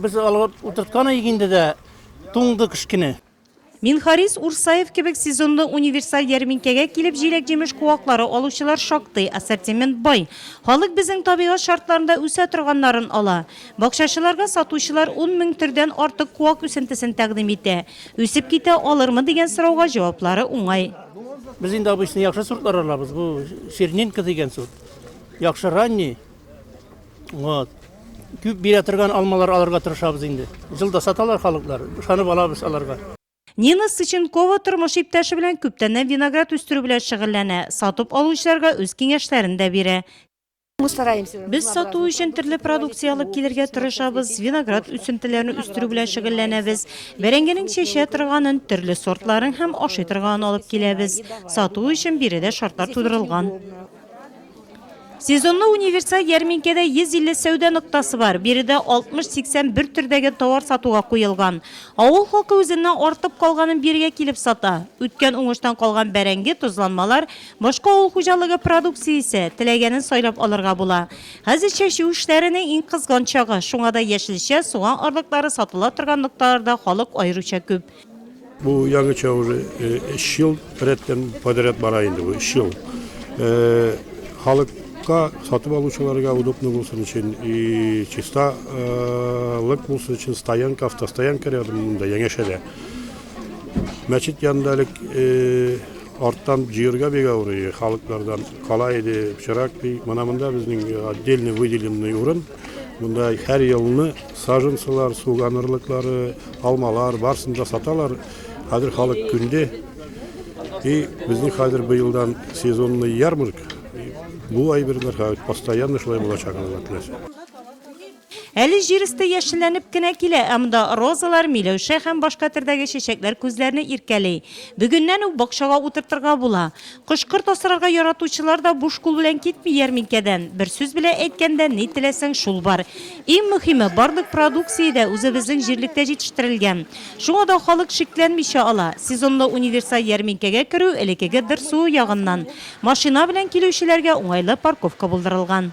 Без алга утырткан идек инде дә, туңды кечкенә. Минхарис Урсаев кебек сезонлы универсаль ярминкәгә килеп җиләк-җимеш куаклары алучылар шактый, ассортимент бай. Халык безнең табигать шартларында үсә торганнарын ала. Бакчачыларга сатучылар ун мең төрдән артык куак үсентесен тәкъдим итә. Үсеп китә алырмы дигән сорауга җаваплары уңай. Без инде обычный яхшы сортлар алабыз, бу чернинка дигән сорт, яхшы ранний. Вот. Күп бирә торган алмалар алырга тырышабыз инде. Җылда саталар халыклар. Ышанып алабыз аларга. Нина Сыченкова тормыш иптәше белән күптәннән виноград үстерү белән шөгыльләнә, сатып алучыларга үз киңәшләрен дә бирә. Без сату өчен төрле продукция алып килергә тырышабыз, виноград үсентеләрен үстерү белән шөгыльләнәбез. Бәрәңгенең чәчә торганын, төрле сортларын һәм ашый торганын алып киләбез. Сату өчен биредә шартлар тудырылган. Сезонлы универсаль ярминкәдә 150 сәүдә ноктасы бар. Биредә 60-80 бер төрдәге товар сатуга куелган. Авыл халкы үзеннән артып калганын бирегә килеп сата. Үткән уңыштан калган бәрәңге, тозланмалар, башка авыл хуҗалыгы продукциясе, теләгәнен сайлап алырга була. Хәзер чәчү эшләренең иң кызган чагы, шуңа да яшелчә, суган орлыклары сатыла торган нокталарда халык аеруча күп. Бу яңыча уже өч ел рәттән подряд бара инде бу өч ел. Халык чиста сатып алучыларга удобно булсын өчен и чиста лык булсын өчен стоянка автостоянка рядом монда яңәшәдә мәчет янында элек арттан җыерга бик авырый халыклардан кала иде пычрак ди мына монда безнең отдельный выделенный урын монда һәр елны Саженцылар, суган орлыклары, алмалар, барысын да саталар. Хәзер халык күнде. И безнең хәзер быелдан сезонный ярмарка. Бу әйберләр хәзер постоянно шулай булачак Алла теләсә. Әле җир өсте яшелләнеп кенә килә, ә монда розалар, миләүшә һәм башка төрдәге чәчәкләр күзләрне иркәли. Бүгеннән үк бакчага утыртырга була. Кош-корт асрарга яратучылар да буш кул белән китми ярминкәдән. Бер сүз белә әйткәндә, ни теләсәң, шул бар. Иң мөхиме, барлык продукция дә үзебезнең җирлектә җитештерелгән. Шуңа да халык шикләнмичә ала. Сезонлы универсаль ярминкәгә керү элекеге ДРСУ ягыннан, машина белән килүчеләргә уңайлы парковка булдырылган.